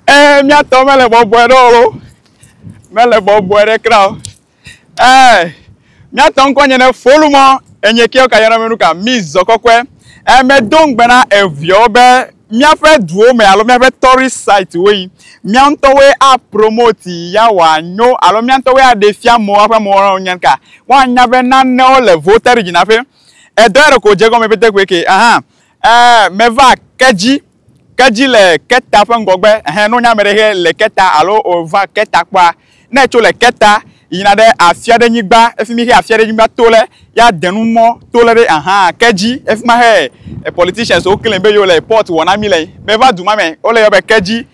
ee eh, míatɔ mele bɔbɔe ɖe o mele bɔbɔe ɖe kra o Eh, miatɔ ŋkɔ nye ne folu mɔ enye kewo ka yɔna menu ka mi zɔ kɔkɔe. Eh, medo ŋugbe na eviawo be míaƒe duwo me alo míaƒe tourist site woe. Mía ŋutɔwoe a promote yi ya wòa nyo alo mía ŋutɔwoe a ɖe fia amewo aƒe amewo alo nya ka. Woa nya be nanewo le voted dzi na ƒe. Edɔ ya ɖeko dze egɔme pɛtɛkue ke. Ahan. Eh, me va ke dzi. Ke dzi le keta ƒe ŋgɔgbe, ɛhɛ, ne wonye ame ɖe hɛ le keta alo wova keta kpɔa, ne etso le keta yina ɖe afia ɖe nyigba, efi mi hɛ afia ɖe nyigba to le, ya de nu mɔ to le ɖe ahan ke dzi. Efi ma hɛ e politicians wo claim be yewo le report wɔ na mi le. Me va du ma me, wole yɔ be ke dzi.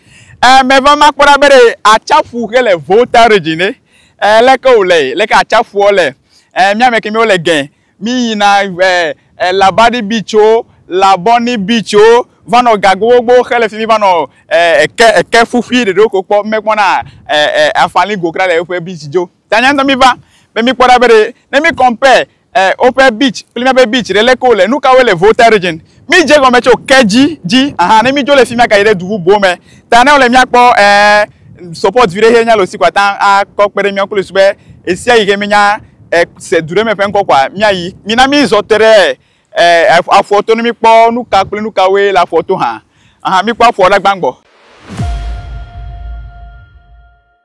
E me va ma kpɔ ɖa be ɖe atsaƒu xe le Volta region ɖe. E leke wo le? Leke atsaƒuɔ le? E mía me ke mí wo le gɛ. Míyina eh, Labadi Beach-o, Labɔni Beach-o, va nɔ ga gbogbogbò xe le fi mi va nɔ eh, eke, eke ƒuƒui ɖeɖewo ko kpɔ. Mekpɔna eh, eh, afali go kura le woƒe beach dzo. Ta nya ŋutɔ míva be míkpɔ ɖa be ɖe ne mi compare eh, woƒe beach kple míaƒe beach ɖe, leke wole, nu kawoe le Volta Region. Mi dze gɔme tso ke dzi dzi. Aha, ne mi dzo le fi mia ka yi ɖe du bubuwo me. Ta ne wole mia kpɔ ɛɛ support vi ɖe xe nya le osi kɔa ta a kɔ kpe ɖe mia klo sube esia yi xe mi nya ɛ se du ɖe me ƒe ŋkɔ kɔa mia yi. Mi na mi zɔ te ɖe ɛɛ aƒua to ne mi kpɔ nu ka kple nu ka woe le aƒua to hã. Aha, mi kpɔ aƒua la gbã gbɔ.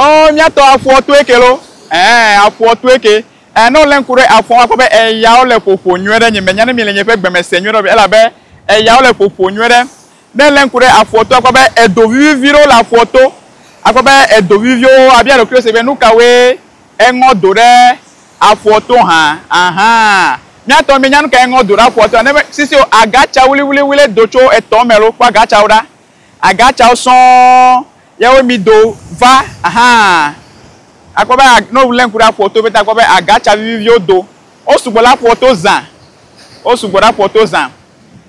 Oh, miatɔ afuɔ to eke lo. Eh, afuɔ to eke. Eh, ne wòlé ŋku ɖe afuɔ, akpɔ be eyawo le ƒoƒo nyuie ɖe. Nye menya ne mi le nye ƒe gbeme se nyuie ɖe o, elabe eyawo le ƒoƒo nyuie ɖe. Ne èlé ŋku ɖe afuɔ to, akpɔ be edo vivivi ɖewo le afuɔ to. Akpɔ be edo viviviwo, abia ɖokuiwò se be, Nukawoe Eŋɔ do ɖe afɔ to hã ahan. Mía tɔ mí nya nukae eŋɔ do ɖe afɔ toa? Nebe sisi o, aga ca wli wli wli do tso etɔ me lo kpɔ aga ca wo ɖa. Aga ca wo sɔ̃ ye wo mi do va ahan. A kpɔ be ne o le ŋku ɖe afɔ to pɛtɛ a kpɔ be aga ca vivi viwo do. Wo sugbɔ ɖe afɔ to zã. Wo sugbɔ ɖe afɔ to zã.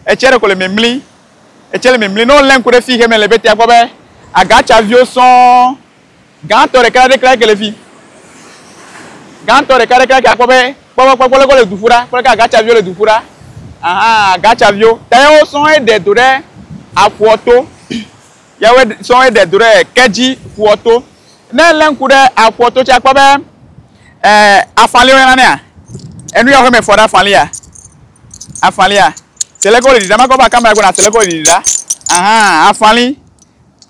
Etsɛ ɖeko le mimli. Etsɛ le mimli. Ne o le ŋku ɖe fi xe me le pɛtɛ a kpɔ be aga ca viwo sɔ̃ Gãtɔ ɖeka ɖe klaki le fi. Gãtɔ ɖeka ɖe klaki akpɔ be kpɔkpɔ kpɔkpɔ leke wole du ƒu ɖa, kpɔ leke agatsaviwo le du ƒu ɖa. Ahan, agatsaviwo. Ta yawo sɔŋ eɖe do ɖe aƒua to. Yawo sɔŋ eɖe do ɖe Kedzi ƒua to. Ne èlé ŋku ɖe aƒua to tse akpɔ be e afaliwo yɔna nɛa? Enu ya xɔmefɔ ɖe afalia? Afalia. Se leke wole ɖiɖam. Makɔ be akamea gblɔ na se leke wole ɖiɖi ɖa. Ahan, afali.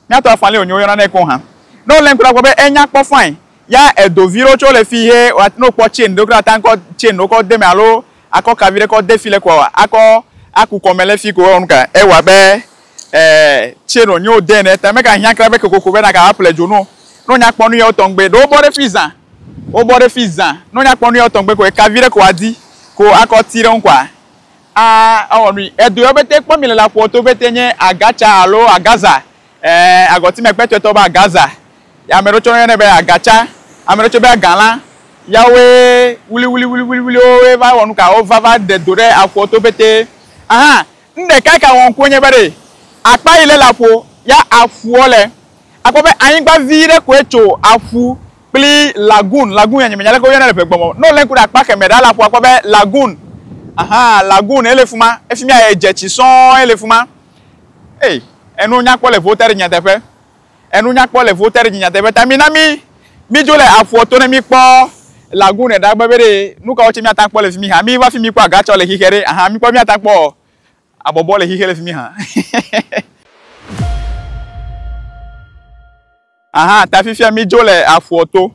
Míato afã lé wònye woyɔna nɛ keŋ hã. Ne wolé ŋku ɖe akpɔ be enya kpɔ fãi ya edo vi ɖewo tse wole fi he wa ne wokpɔ chain ɖewo ke ate ŋu kɔ chain ɖewo kɔ de eme alo akɔ ka viɖe kɔ de fi le koa akɔ aku kɔme le fi ko ewɔ nuka ewa abe e chain wonye wode ene ta meka hiã kura be kokoko be naka va ple dzonu o. Ne wonya kpɔ nuya wotɔŋgbe ɖo wobɔ ɖe fi zã wobɔ ɖe fi zã ne wonya kpɔ nuya wotɔŋgbe ko eka viɖe ko wadi ko akɔ ti ɖe ŋu koa. A, ewɔ nui. Edu yɔ bete kpɔ mi le la ƒoɔ to bete nye Agatsa alo Agaza. Ẽ, agɔtime kpɛtɔe tɔ be Agaza. Ya ame ɖewo tsɛ woyɔnɛ be Agatsa. Ame ɖewo tsɛ be Agalã. Ya woe wuliwuliwuliwuliwuliwo woe va wɔ nuka? Wova va ɖe do ɖe aƒoɔ to bete. Ahan, nu ɖeka yi ke awɔ ŋkue nye be ɖe akpa yi le le aƒo ya aƒuɔ le, akpɔ be anyigba vi ɖe koe tso aƒu kpli lagoon, lagoon ya nyemenya leke woyɔnɛ le ʋegbe me o. Ne wòlé ŋku ɖe akpa kemɛ ɖaa la, aƒua kpɔ be lagoon, ahan, lagoon ye le fi ma. Efi mia, edze tsi sɔŋ ye le fi ma. Ey, enu nyakpɔ le ŋuwo te ɖe nyateƒe. Enu nyakpɔ le ŋuwo te ɖe dzi nyateƒe. Ta mina mí, mídzo le aƒuɔ to ne míkpɔ lagoon ɖaa be veɖe nu kawo tsɛ míate ŋu akpɔ le fi mi hã. Míva fi mi kpɔ agatsɔ le xixe ɖe, ahan, míkpɔ be míate ŋu akpɔ abɔbɔ le xixe le fi mi hã. Aha ta fifia midzo le aƒua to.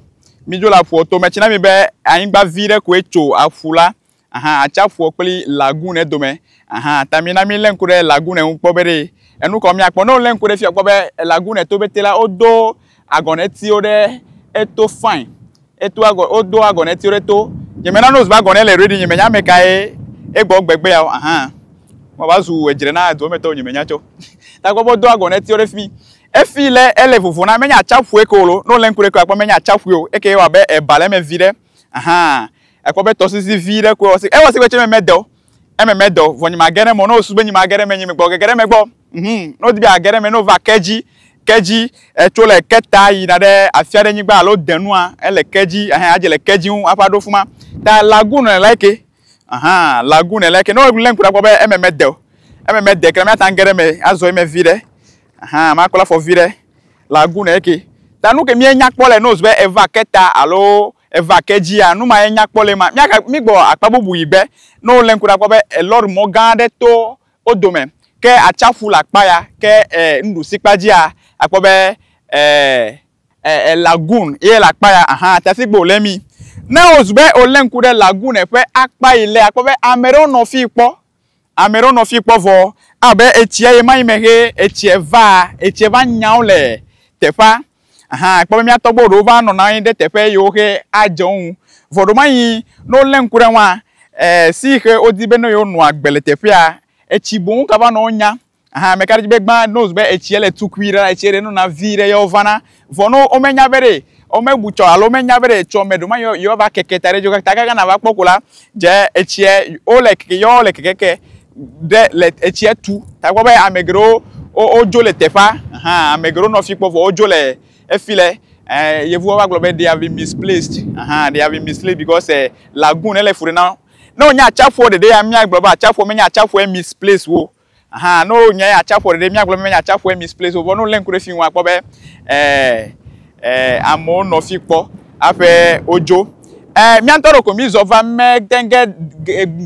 Midzo le aƒua to. Metsi na mi be anyigba vi ɖe koe tso aƒu la. Aha atsaƒua kple lagoon dome. Aha ta mina milé ŋku ɖe lagoon ŋu kpɔ be ɖe enu kɔ miakpɔ. Ne wolé ŋku ɖe fia kpɔ be lagoon to bete la wodo agɔnetiwo ɖe eto fine. Eto agɔ wodo agɔnetiwo ɖe to. Nyemena no zba agɔnɛ le ready nyemenya ame kae egbɔ gbegbe ya o. Aha. Mo va zu edzre na edua me tɔwo nyemenya tso. Ta kpɔ be wodo agɔnetiwo ɖe fi mi. Efi lé ele vovo na menye atsaƒue ke o lo. Ne wòlé ŋku ɖe ekea, ekpɔ be menye atsaƒue o. Eke wɔ abe eba le eme vi ɖe. Ahan. Ekpɔ be tɔsisi vi ɖe koe wɔ si. Ewɔ si koe tse eme mede o. Eme mede o. Vɔ nyi mage ɖe eme o. Ne wòsu be nyi mage ɖe eme nyi megbɔ o. Gege ɖe eme gbɔ. Mhum. Ne wòdi be yeage ɖe eme, ne wòva ke dzi, ke dzi, etso le ke ta yina ɖe afi aɖe nyigba alo de nua, ele ke dzi, ahan, adze le ke dzi ŋu hafi aɖo fima. Ta lagoon le like ye. Ahan. Lagoon le like ye. Ne wòlé ŋku ɖe ekpɔ be eme mede o. Eme mede ke la, míate ŋu age ɖe eme azɔ eme vi ɖe. Ahan, ma kple afɔ viɖe le agu ne eke. Ta nu ke mie nya kpɔ le nose be eva ke ta alo eva ke dzia, nu ma ye nya kpɔ le ma. Mia ka, mi gbɔ akpa bubu yi gbe, ne wo le ŋku ɖa kpɔ be elɔri mɔ gã ɖe to wo dome, ke atsaƒu le akpa ya, ke e nuɖusi kpa dzia, akpɔ be e, e, e lagoon ye le akpa ya, ahan, ta si gbe wo le mi. Ne ozu be wo le ŋku ɖe lagoon ƒe akpa yi le, akpɔ be ameɖewo nɔ fi kpɔ, Ame ɖewo nɔ fi kpɔ vɔ abe etsia ye ma yi mehɛ etsia va etsia va nyao le teƒea. Aha kpɔ be mía tɔgbuiwo ɖewo va nɔna anyi ɖe teƒe yi wohɛ adze wo ŋu. Vɔ ɖewo ma yi ne wolé ŋku ɖe ŋua, e si yi xe wodi be ne yewo nɔa gbe le teƒea etsi boŋ ka va nɔ wo nya. Aha ame ka ɖe dzi be gbã no be etsia le tukui ɖe la etsia ɖe nona vi ɖe yewo vana. Vɔ no wo menya be ɖe wo me bu tsɔ alo wo menya be ɖe tsɔ me ɖo ma yewo yewo va keke ta ɖe dzo kaka kaka na va kpɔ ko la dze etsia wo le keke yewo le keke ke ɖe le etsia tu. Ta kpɔ be ame geɖewo wo wo dzo le teƒea aha ame geɖewo nɔ fi kpɔ vɔ wo dzo le efi le eh yevuwo va gblɔ be they have been misplaced aha they have been misplaced because eh lagoon ele fu ɖe na wo. Ne wonye atsaƒuɔ ɖeɖe ya mía gblɔ be atsaƒuɔ menye atsaƒuɔ ye misplace wo. Aha, ne wonyae atsaƒua ɖeɖe míagblɔ be menye atsaƒue misplace o vɔ ne wolé ŋku ɖe fi ŋu akpɔ be ɛɛ ɛɛ amewo nɔ fi kpɔ aƒe wodzo. Ɛɛ mía ŋutɔ ɖe ko mizɔ va mete ge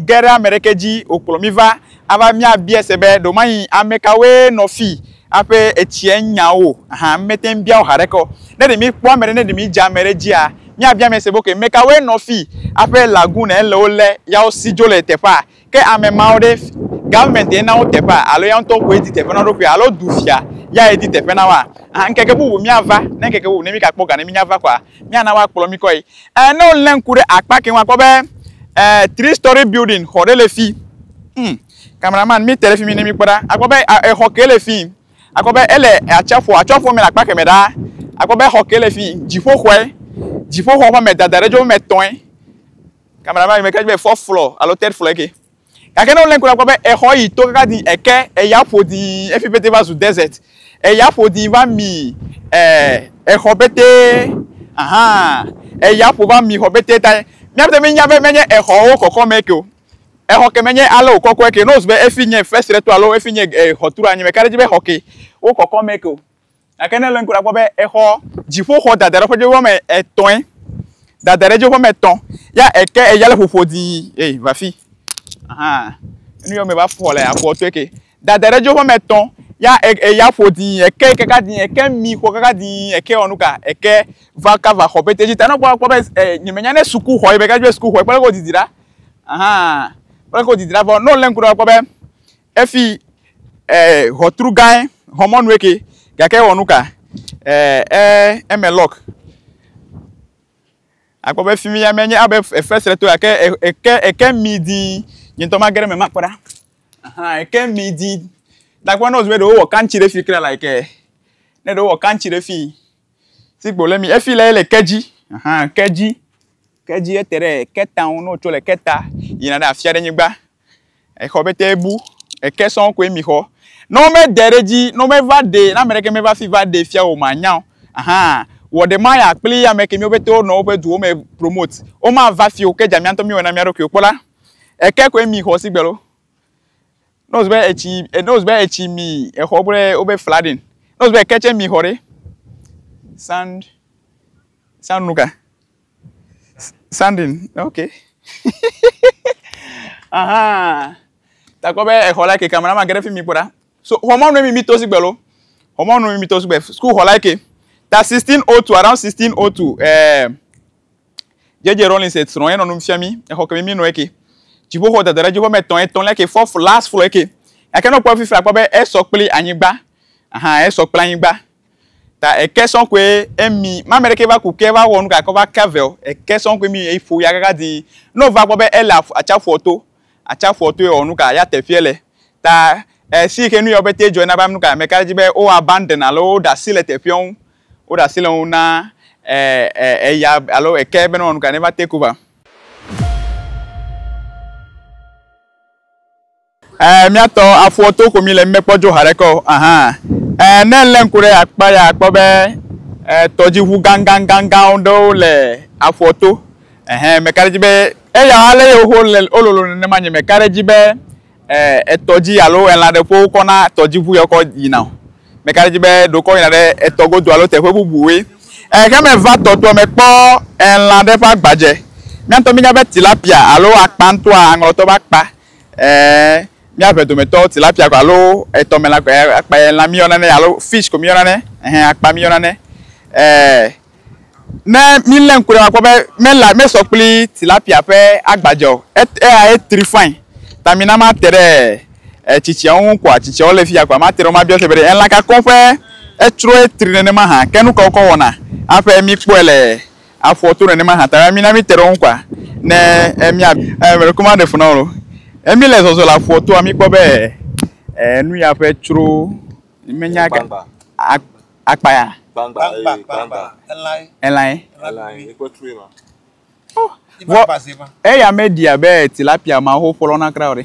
ge ɖe ame ɖeke dzi wòkplɔ mí va ava míabia se be ɖewomanyi ame kawoe nɔ fi aƒe etsia nya wo o. Aha, mete ŋu bia wo ha ɖeke o. Ne ɖe míkpɔ ame ɖe ne ɖe mídze ame ɖe dzia míabia ame se be ok ame kawoe nɔ fi aƒe lagoon ele wo le ya wosi dzo le teƒea Ke ame mawo ɖe, government ye na wo teƒea alo ya ŋutɔ koe di teƒe na wo ɖokui alo du fia yae di teƒe na woa? Aa, ŋkeke bubu míava, ne ŋkeke bubu ne mí gakpɔ ga ne mínya va kɔa, míana woakplɔ mí kɔe. Ɛ, ne wolé ŋku ɖe akpa ke ŋu akpɔ be, ɛ, three story building, xɔ ɖe le fi. Hm, cameraman, míte ɖe fi mi ne míkpɔ ɖa. Akpɔ be a, exɔ ke le fii, akpɔ be ele atsiaƒua, atsiaƒua me le akpa kemɛ ɖaa. Akpɔ be exɔ ke le fii, dziƒoxɔe, dziƒoxɔ ƒe amedada ɖe dzo woame etɔ̃e. Cameraman me kɛdzi be fourth floor alo third floor eke. Gake ne wolé ŋku la kpɔ be exɔ yi to kaka di eke eya ƒo di efi pete va zu desert. Eya ƒo di va mi eh, exɔ pete. Aha. Eya ƒo va mi xɔ pete ta míate ŋu anya be menye exɔwo kɔkɔme eke o. Exɔ ke menye ale wòkɔkɔe ke ne wozu be efi nye first rector alo efi nye eh, xɔturu anyi me ka ɖe edzi be exɔ ke wokɔkɔm eke o. Gake ne le ŋku la kpɔ be exɔ dziƒoxɔ dada ɖe ƒe dzoƒe wɔme etɔ̃e, dada ɖe dzoƒe wɔme etɔ̃, ya eke eya le ƒoƒo dii, ei, va fi. Ahan, enu yɔ me va fɔ le afɔ tɔe ke. Dada ɖe dzoƒe wɔme etɔ̃, ya e, eya ƒo dii, eke kaka dii, eke mi xɔ kaka dii, eke wɔ nu ka, eke va kava xɔ pɛtɛ dzi ta. Ne kpɔ kpɔ be e, nyemenya ne sukuxɔ ye be, gake be sukuxɔ ye kpɔ leke wodidi ɖa. Ahan, kpɔ leke wodidi ɖa vɔ ne le ŋku la kpɔ be Efi eh, ʋɔtru gãe, xɔmɔnue ke, gake ewɔ nu ka? Eh, eh, eme lɔk. Akpɔ be fi mi ya menye abe fesre to gake eke eke mi di nye ŋutɔ mage ɖe me makpɔ ɖa. Aha, eke mi di. Nakpɔ ne wòzu be ɖewo wɔ kantsi ɖe fi kle like eh, ne ɖewo wɔ kantsi ɖe fi si gbo le mi efi le ele ke dzi. Aha, ke dzi. Ke dzi ete ɖe keta ŋu ne wòtso le keta yina ɖe afia ɖe nyigba. Exɔ be te bu, eke sɔŋ koe mi xɔ. Ne wo me de ɖe dzi, ne wo me va ɖe, ne ame ɖeke me va fi va ɖe fia o, ma nya o. Ahan. Wɔ ɖe ma ya kpli ame ke mi wo pete wo nɔ wo ƒe duwo me promote. Wo ma va fi o, ke dza mia ŋutɔ mi wɔ na mia ɖokuiwo. Kpɔ la, eke koe mi xɔ sigbe lo. Ne wo se be etsi, ne wo se be etsi mi exɔ kple wo be flooding, ne wo se be eke tse mi xɔ ɖe, sand, sand nu ka? Sandin, ok. Aha. Takɔ be exɔ la ke kamera ma geɖe fi mi kpɔ ɖa. So xɔmɔ nu mi mi to si gbe lo. Xɔmɔ nu mi to si gbe. School xɔ la ke. Ta 1602 around 1602 eh JJ Rollins et srɔ̃ enɔ nu fia mi. Exɔ ke mi mi nɔ ke. Dziƒoxɔ dada ɖe dziƒo me tɔn etɔn le ke fourth last floor ke. Ake no kpɔ fifi akpɔ be esɔ kpli anyigba. Aha esɔ kpli anyigba. Ta eke sɔn koe emi mame ɖeke va ku ke va wɔ nu gake wova ke vɛ o. Eke sɔn koe mi eƒo ya kaka dii. Ne wova gbɔ be ele atsaƒua to, atsaƒua to ewɔ nu ka ya teƒeɛ le. Ta esi yi ke nu yawo pɛtɛ dzɔe na be ame nu ka meka ɖe edzi be wo abandon alo woɖe asi le teƒeɛ ŋu. Woɖe asi le ŋu na eya alo eke be ne wɔ nu ka ne va take over. Eh, míatɔ afɔ to ko mi le mekpɔ dzo haɖe ke o. Ahan. Eh, ne lé ŋku ɖe akpa ya akpɔ be eh, tɔdziʋu ganganganganwo ɖewo le afɔ to. Ehɛn, meka ɖe edzi be eya ale ye woho le wololo nenema nye meka ɖe edzi be eh, etɔ dzi alo elã ɖe ƒe wokɔ na tɔdziʋu ya wokɔ yina o. Meka ɖe edzi be ɖe wokɔ yina ɖe etɔ godo alo teƒe bubuwoe. Eh, ke meva tɔtoa mekpɔ elã ɖe ƒe agbadze. Míawo ŋutɔ míenya be tilapia alo akpa ŋutɔa, aŋlɔtɔ be akpa, Ɛɛ, míaƒe dometɔ tilapia ko alo etɔmelã koe akpa ye lã míyɔna nɛ alo fish ko míyɔna nɛ. Ɛhɛn, akpa míyɔna nɛ. Ɛɛ, ne mílé ŋku ɖe eme akpɔ be mela mesɔ kpli tilapia ƒe agbadze o. Et eya etri fain ta mina mate ɖe etsitsiawo ŋu koa tsitsiawo le fiya koa mate ɖe wo mabiɔ se be ɖe elã ka koŋ ƒe etsroe tri nenema hã. Ke nukawo ke wowɔna aƒe mikpɔe le. Afɔ to nenema hã ta mi na mi teɖewo ŋkɔa ne emi a e me ɖeko ma ɖe funa olo emi le zɔzɔ le afɔ toa mi kpɔ be e nu ya ƒe tsro me nya ga akpa ya gbangba gbangba elai elai elai ekpe tsroe ma oh vɔ eya me ɖi abe tilapia ma ho ƒlɔ na kra o ɖe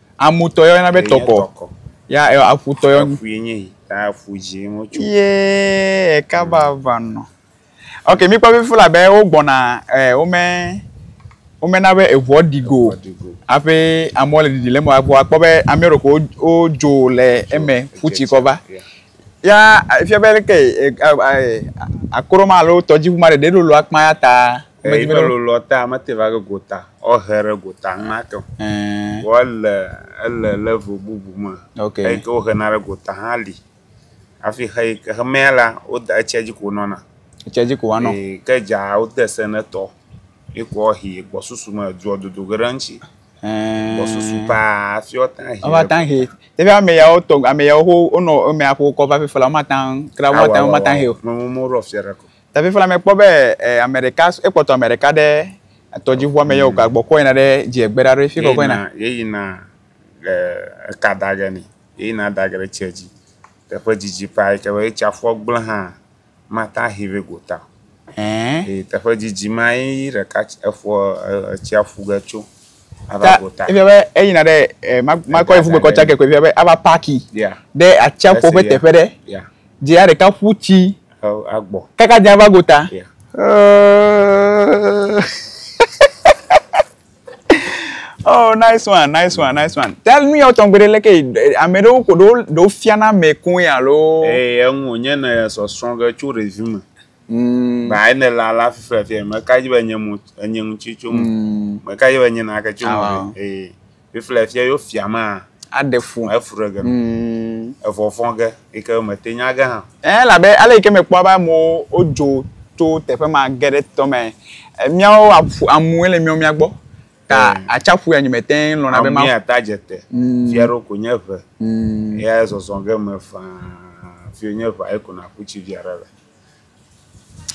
Amutɔ ya woyɔna be tɔkɔ. Tɔkɔ. Ya ɛ- aƒutɔ ya woyɔna- Aƒui nye yi. Ta aƒu dzi wotso. Ye eka vava nɔ. Ok, míkpɔ fifia la be wogbɔna eh, wome womena be eŋua ɖi go o. Eŋuaɖigo. Hafi amewo le ɖiɖi le eme o. Vɔ akpɔ be amea ɖewo ko wo- wodzo le eme ƒu tsi kɔ va. Yeah. Ya efia be leke eh, eh, eh, akro ma alo tɔdziʋu ma ɖeɖe ɖo lo akpa ya ta Ame yi ƒe lolɔ ta mete va ɖe gota, wohe ɖe gota enumake o. Vɔ ele ele level bubu me. Okay. Eyi ke wohena ɖe gota hã li. Hafi xe yi ke xemea la, woda etsia dzi ko wonɔna. Etsia dzi ko woanɔ. Ee, ke dza wode se ne etɔ. Ye ko woahi gbɔsusu me edua dodo ge ɖe eŋuti. Gbɔsusu paa hafi woate ŋu ahi. Woate ŋu ahi. Teƒe ame yawo tɔ ame yawo wonɔ emea ƒe wokɔ va ƒiƒe la, womate ŋu kura womate ŋu womate ŋu ahi o. Mɔmɔmɔ ɖo afia ɖe ko. Ta fifia la, mekpɔ be ame ɖeka, ekpɔtɔ ame ɖeka ɖe tɔdziʋua me ye wòka gbɔ kɔ yina ɖe dzie gbe ɖa ɖo fi kɔkɔ yina. Yeyina eka da ge nɛ, yeyina da ge ɖe tsia dzi. Teƒe didi ƒaa yi ke be ye tsiaƒua gblẽ hã mate ahi vɛ gota o. Eye teƒe didi ma ye eƒua, etsia ƒu ge tso. ava go ta. Efia be eyina ɖe eh, makɔ efu gbekɔ tsa kekɔ efia be ava paki ɖe atsiaƒu ƒe teƒe ɖe. Dzea ɖeka ƒu tsi agbɔ. Kaka dzea va go ta. Oh, nice one, nice one, nice one. Tell me your tongue, but like, ame ɖewo ko ɖo ɖo fiana ame koe alo. Ee, eŋu nye ne sɔ srɔ̃ ge tso ɖevi me. Mm. Ba ayi ne la la fifia fia me ka ji be nye mu enye ŋutsi tso mu. Mm. Me ka ji be nye na ke tso mu. Ah, wow. Eh. Fifia fia yo fia ma. Aɖe fu. Efu ɖe ge. Mm. Evɔfɔ ge yi ke me te nya ge hã. Eh la be ale yi ke me kpɔ ba mo o jo to teƒe ma ge ɖe tɔ me. Eh, Miawo aƒu amu ele miawo mia gbɔ. Ta Eh. atsaƒu ya nyime te lɔna be Amu ma. ya ta jete. Mm. Fia ɖo ko nye ʋe. Mm. Ya zɔzɔ ge me faa. Fio nye ʋe ayi ko na ku tsi via ɖe le.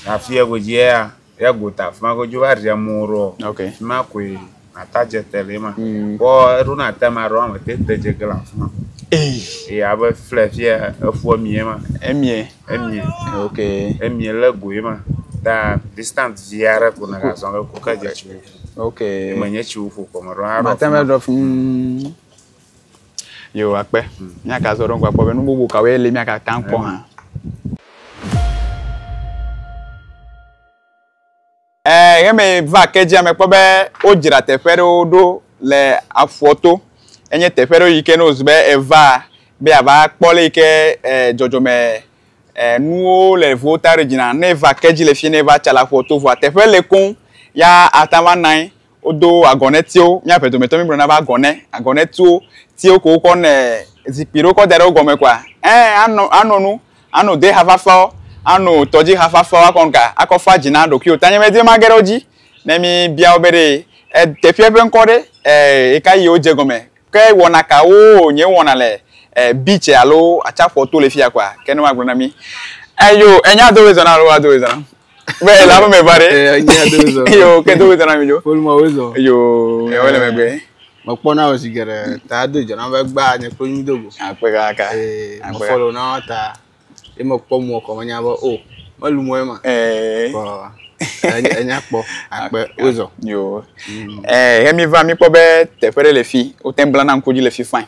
Afi ya godzi ya ya gota afi ma godzi va ɖia mo ro. Okay. Afi ma koe ata dze te le ma. Mm. Bɔ eɖo na te ma ro ame te te dze gla afi ma. Ei. E ya be fle fi ya efua mi ma. Emie. Emie. Okay. Emie le go ma. Da distant via re ko na ga zon ko ka dze chi. Okay. Menye chi wo fo ko ma ro. Ma te me ro fun. Yo, akpe. Míaka zɔ ɖe ŋgɔ akpɔ be nu bubu kawoe li míaka ta kpɔ hã. Eh, ɣe me va ke dzia me kpɔ be wodzra teƒe ɖewo ɖo le aƒua to. Enye teƒe ɖewo yi ke ne wozu be eva be ava kpɔ le yi ke eh, dzɔdzɔme eh, nuwo le vo ta ɖe dzina. Ne eva ke dzi le fi ne eva tsa le aƒua to vɔa teƒe le koŋ ya ata va nanyi Wodo agɔnetiwo. Míaƒe dometɔ mígblɔna be agɔnɛ, agɔnɛtiwo, tiwo ko wokɔ nɛ zikpui ɖewo kɔ da ɖe wo gɔme kɔa, ẽ, anɔ, anɔ nu, ano deha fafawo, ano tɔdziha fafawo akɔ ŋka, akɔ fa dzi na ɖokuiwò. Ta nye medi be mage ɖe wo dzi ne míbia wo be ɖe, e, teƒeɛ ƒe ŋkɔ ɖe, e, eka yie wodze gɔme. Ke wɔna kawoo nye wowɔna le, e, beach alo atsiaƒuɔ to le fiya kɔa? Ke ne woagblɔ na mí. Eyo, enya dowoe zɔna alo ado woe zɔna? Be la ƒe me va ɖe. Ee, nyea do zɔ. Eyo ke do zɔ na mi do. Ƒoluma wo zɔ. Eyo ewe le megbe. Mekpɔ na wò zi geɖe ta do dzɔ na be gba nye kple nyi do go. Akpe kaka. Ee, mekpɔ le na wò ta. Ye mekpɔ mu ɔkɔ menya be o. Oh, melu mɔ ye ma. Ee. Kɔ. Enya kpɔ. Akpe wo zɔ. Yo. Mm. Ee, he mi va mi kpɔ be teƒe ɖe le fi. Wote bla na ŋku dzi le fi fine.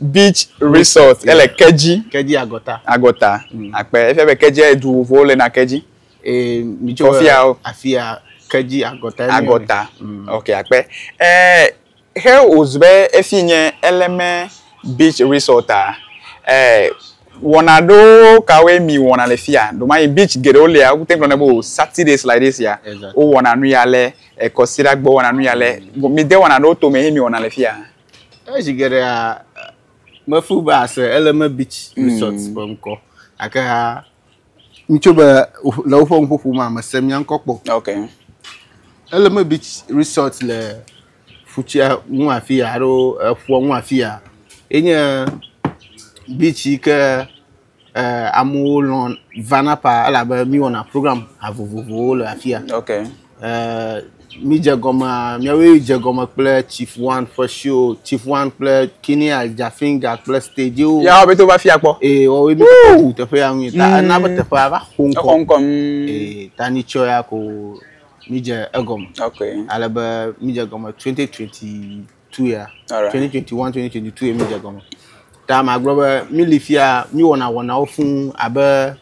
Beach Resort ele yeah. Kedzi. Kedzi Agɔta. Agɔta. Mm. Akpe efia be Kedzi edu vovovowo le na Kedzi. Eh, mi tso afia o. Afia Kedzi Agɔta. Agɔta. Mm. Ok, akpe. Eh, he ozu be efi nye Eleme Beach Resort a. Eh, wɔna ɖewo kawoe mi wɔna le fia ɖomayi beach geɖewo lia wokute gblɔ ne bo saturdays like this ya wowɔna nu ya le ekɔsira gbɔ wɔna nu ya le mi de wɔna ɖewo tome he mi wɔna le fia. Ezi geɖea mefu be ase Eleme Beach mm. Resort ƒe ŋkɔ gake ha ŋutso be le woƒe ŋuƒoƒo ma mese mia ŋkɔ kpɔ. Okay. Eleme Beach Resort le futsia ŋu afi ya alo eƒua ŋu afi ya. Enye beach yi ke eh, amewo lɔ vana pa elabe míwɔna program ha vovovowo le afia. Ok. Eh, mi dze gɔme miawoe dze gɔme kple chief one ƒe show chief one kple kini adjafinga kple stage wo. yawo bɛ to va fia kpɔ. ee wɔwoe mi kɔkɔ wu teƒe ya ŋui ta ena be teƒe ya va xo ŋkɔ exɔ ŋkɔ mm, ee ta ni tsɔ ya ko mi dze egɔme ok. ale be mi dze gɔme twenty twenty tu ya. Alright. 2021, 2022 ye mi dze gɔme. Ta magblɔ be mi li fia mi wɔna wɔnawo fuu abe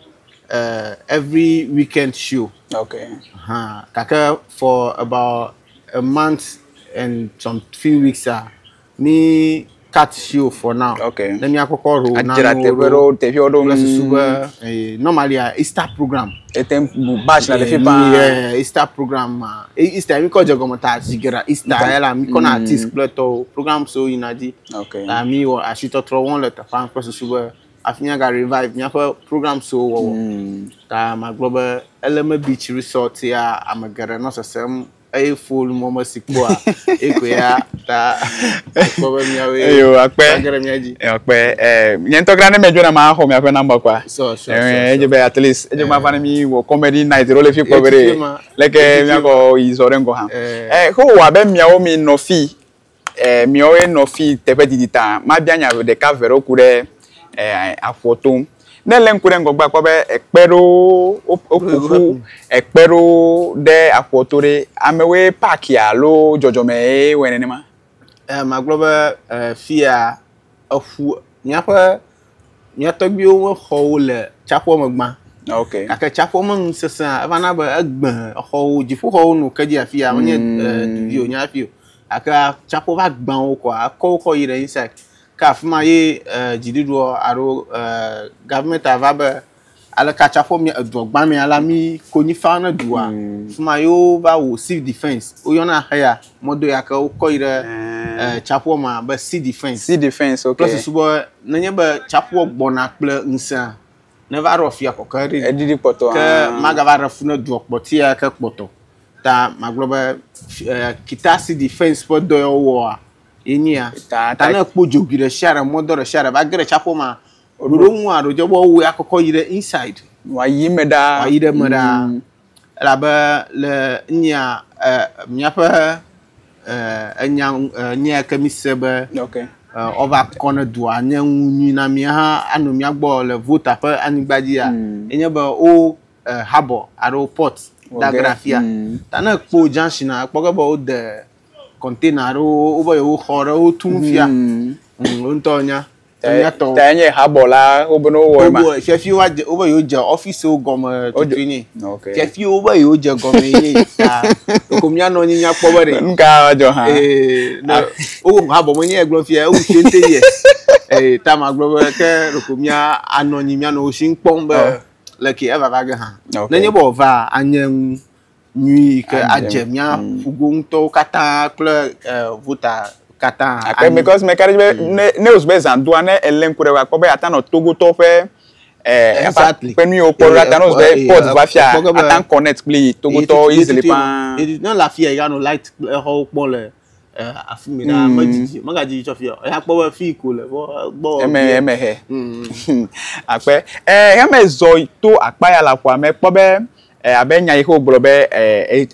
uh, every weekend show. Okay. Huh. Gake for about a month and some few weeks a mi cut show for now. Okay. Ne mi akɔkɔ ro na Adzra teƒe ɖewo teƒewo ɖo. Kple susu be eh, normally a Easter program. Ete ŋu bash le fi paa. Yeah, Easter program ma. E- Easter mi kɔ dze gɔme ta zi geɖa Easter Easter. ela mi kɔ na Mm. artist kple tɔwo program so yina dzi. Okay. Ta mi wɔ asitɔtrɔ wɔm le teƒea kple susu be afi mia ga revive miaƒe program so wɔwɔ. Mm. Ta magblɔ be Eleme Beach Resort ya ame geɖe nɔ sesem eye fol mɔ me si kpɔa ekoe ya ta kpɔ be miawe eyo akpe agere mia dzi akpe eh nye ŋutɔ kra ne medzɔ na ma xɔ miaƒe number kwa so so edze be at least edze ma fana mi wɔ comedy night ro le fi kpɔ be leke miakɔ yi zɔ ɖe ŋgɔ ha eh ko wa be miawo mi nɔ fi E, miɔwoe nɔ fi teƒe didi ta. Mabia nya ɖeka ve ɖewo ku ɖe e, aƒua to. Ne lé ŋku ɖe ŋgɔgbe akpɔ be ekpe ɖewo woƒoƒu ekpe ɖewo ɖe aƒua to ɖe amewoe paki alo dzɔdzɔme ye wɔe nenema. E, magblɔ be e, fia eƒu míaƒe Mía tɔgbuiwo ƒe xɔwo le tsaƒua me gbã. Ok. Gake tsaƒua me nu sesẽ hã. Eva na be egbẽ exɔwo, dziƒoxɔwo nɔ ke dzi afia, menye mm. eh, du dzi o, nye afi o. Gake tsaƒua va gbã wo kɔa, ekɔ wo kɔ yi ɖe inside. Ke afi ma ye eh, dziɖuɖua alo eh, gavimɛnti va be Ale katsa fɔ mi edua gbã mea la mi konyi fa ne dua. Mm. Fuma yewo va wo civil defense. Wo yɔna xe ya mɔdo ya ke wo kɔ yi ɖe eh tsaƒua eh, ma be sea defense. Sea defense okay. Kple susu be ne nye be tsaƒua gbɔna kple ŋusẽa ne va ɖɔ fia kɔkɔ eɖi. Eɖi ɖi kpɔtɔ. Ke ah. maga va ɖe fu ne dua kpɔtia ke kpɔtɔ. Ta magblɔ be eh, kita sea defense ƒe dɔ ya wo wɔa. Yenye ya. Ta, ta, ta ne kpo dzogi ɖe sia ɖe mɔdɔ ɖe sia ɖe va ge ɖe tsaƒua ma. Ɖo ɖo ŋu aɖo dze bɔ wo ya kɔkɔ yi ɖe inside. Wa yi me ɖa. Wa yi ɖe me ɖa. Mm. Elabe le nya ɛ míaƒe ɛ enya nya ke mi se be. Okay. Ɔva kɔ ne dua nye ŋu nyui na mi hã anɔ mía gbɔ le vota ƒe anyigba dzi ya. Mm. Enye be wo ɛ habɔ aɖo port da gra fia. Mm. Ta ne kpo junction a kpɔ ke be wo de container aɖo wo be yewo xɔ ɖe wo tu fia. Mm. Wo ŋutɔ nya. Enyatɔwo. Ta enye habɔ la wobe ne wowɔe ma. Wowɔe fiafi woadze wobe yewoadze ɔfisiwo gɔme tutui nɛ. Ok. Fiafi wobe yewoadze gɔme nɛ ta ɖeko míanɔ anyi míakpɔ be ɖe. Nu ka adzɔ hã. Ee ne Ah. wowu habɔ menye ye gblɔm fia ewu shente ye. Ee ta magblɔ be ke ɖeko mía anɔ anyi míanɔ wo si kpɔm be Ɔ. leke evava ge hã. Ok. Nenye be wòvaa anye nu. nyui yi ke adze mía ƒogo ŋutɔwo katã kple vota katã. Ake mi kɔsi mɛ kari be mm. ne ne osu be zandoa ne ele ŋku ɖe wa kpɔ be ata nɔ togotɔ ƒe ɛɛ efa ƒe nuyiwo kpɔ ɖe ata nɔ osu be pɔt va fia ata kɔnɛt kpli togotɔ izili paa. Edi ne le afi ya ya nɔ light exɔwo kpɔ le. eh, afi mi ɖaa mm. medzidzi megadzidzi tsɔ fiɔ eya kpɔ be fi ko le bɔ gbɔ eme eme he mm. akpe ɛ eh, heme zɔ to akpa ya la ƒoa mɛ kpɔ be eh, abe nya yi ke wogblɔ be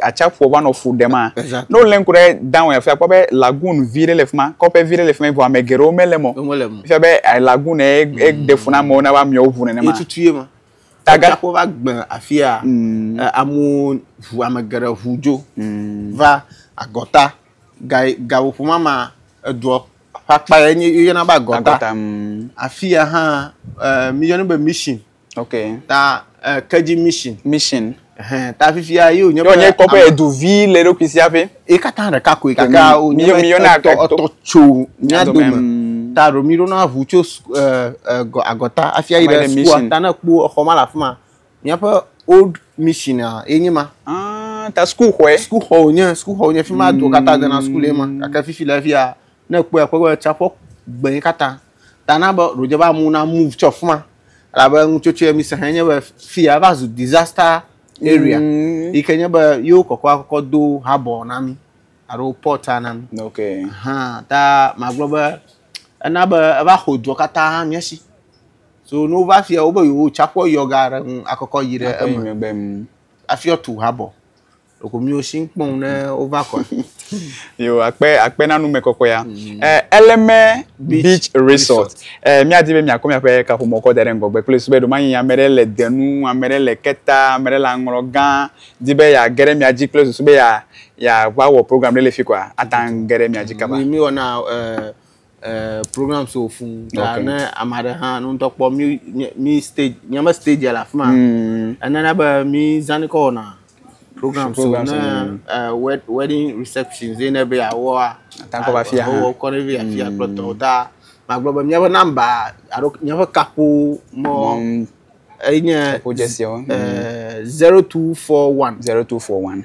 atsaƒu va nɔ fu ɖe ma ne wolé ŋku ɖe down afia kpɔ be lagoon vi ɖe le fi ma kɔƒe vi ɖe le fi ma vɔ ame geɖewo mele mɔ fia be lagoon eɖe mm. fu na amewo na woamewo ʋu nenema Tagbãxo va gbe afia mm. eh, amewo ʋu ame geɖe ʋu dzo mm. va agɔta gawoƒomama edua ƒe akpa ye nye yɔna be agɔta mm. afia hã eh, miyɔnɛ be mission okay. ta eh, kedzi mission mission ta fifia yóò nye nye kɔ be edu vi le ɖokui sia ƒe ye katã ɖeka koe gake wonye etɔ etɔ tso mía dome mm. ta ɖo mi ɖo na ʋu tso eh, eh, agɔta hafi ayi ɖe sukua ta ne kpo exɔ ma le afi ma míaƒe old mission a ye nye ma ah, ta sukuu xɔe sukuu xɔ wonye sukuu xɔ wonye fi ma do katã dena sukuu le ma mm. gake fifi le fia ne kpɔe kpɔe be tsaƒɔ gbɛnyi katã Ta na be ɖewo dze be amewo na move tso afi ma. Elabe nutsotsoe mi se hã nye be fi ya va zu disaster area. Mm. Yi ke nye be yewo kɔkɔ akɔkɔ do harbor na mi alo port na mi. Okay. Hã ta magblɔ be ena be eva xɔ dua katã mía si. So ne wova fia wobe yewo tsaƒua yɔ ga ɖe ŋu akɔkɔ yi ɖe eme. Afi wotu harbor. Ɖeko miwo si kpɔm ne wova kɔa. Yo akpe akpe na nume kɔkɔea. Mm. Eh, Eleme Beach, Beach Resort. Eh, miadi be miakɔ miaƒe kaƒomɔ kɔ da ɖe ŋgɔgbe kple sube ɖo manyi ame ɖe le denu, ame ɖe le keta, ame ɖe le aŋlɔ gã, di be ya ge ɖe mia dzi kple susu be ya ya va wɔ program ɖe le fi kɔa, ata ŋu ge ɖe mia dzi kaba. Mi mi wɔna eh eh, program so fún ya okay. ne ame aɖe hã nu ŋutɔ kpɔ mi mi stage nyame stage le afi ma mm. enana be mi zani kɔ wɔna program so ne eh, wedding reception zi ne be yeawɔa atakɔ va fia hã wɔ kɔ ne be afia mm. kplɔtɔ ta magblɔ be miaƒe namba alo miaƒe kaƒo mɔ enye eh, mm. zero two four one zero two four one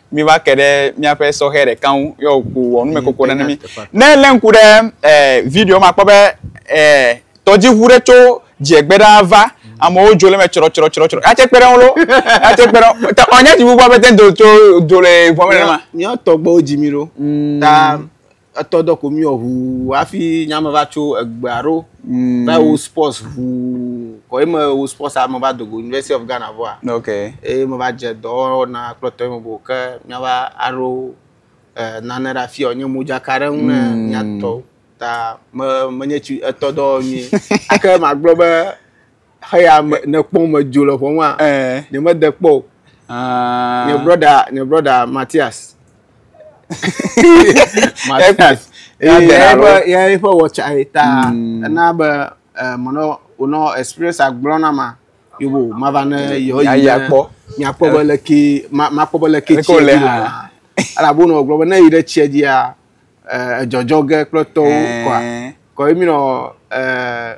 mi va ke ɖe míaƒe sɔhɛ ɖeka ŋu yɔ wòku wɔ numekoko ɖe ne mi ne lé ŋku ɖe eh, video ma kpɔ be eh, tɔdziʋu ɖe tso dziegbe ɖa va amewo dzo le me tsrɔtsrɔtsrɔtsrɔ atse kpe ɖe ŋu lo atse kpe ɖe ŋu ta ɔnya dziʋu gbɔ be te do tso do le ʋɔme ɖe ma. míawo tɔgbewo dzi mi ɖo ta etɔ dɔ ko miwɔ ʋuu hafi nyame va tso egbea ɖo mm. va wo sports ʋuu kɔ eme wo sports ame va dogo university of ghana vɔa ok eye me va dze dɔwɔna kplɔtɔ eme bo ke miava aɖo eh, nane ɖe afia wònye modzaka ɖe ŋu ne mm. miatɔ ta me menye tsi etɔ dɔ nyui ake magblɔ be Xeya me nekpɔ medzo le ƒɔmua? Eh. Ne me de kpɔ o. Ah. Ne brother, ne brother Matthias. Matthias. Ya de alo. Ya ye fa watcha eta. Hmm. Na be eh mono ono experience agblɔ na ma. Yobo mava ne yo yi. Ya ya kpɔ. Nya kpɔ be le ki ma ma kpɔ be le ki tsi. Lekole ha. Ala bono gblɔ be ne yi ɖe tsia dzia eh edzɔdzɔ ge kple tɔwo kɔa. Eh. Kɔ emi nɔ eh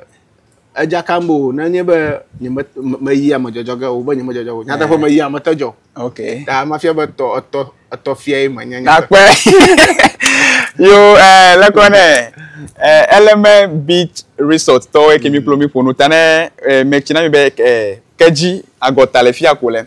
Edzakam be o nenye be nyeme meyi ame dzɔdzɔ ge o be nyeme dzɔdzɔ o. Nyateƒe eh. meyi ame te dzɔ. Ok. Ta mafia be tɔ etɔ etɔ fia ye menye. Nakpe. Yo eh lekɔ ne eh Element Beach Resort tɔwo eke mi kplo mi ƒo nu ta ne eh metsina mi be eh kedzi agɔta le fia ko le.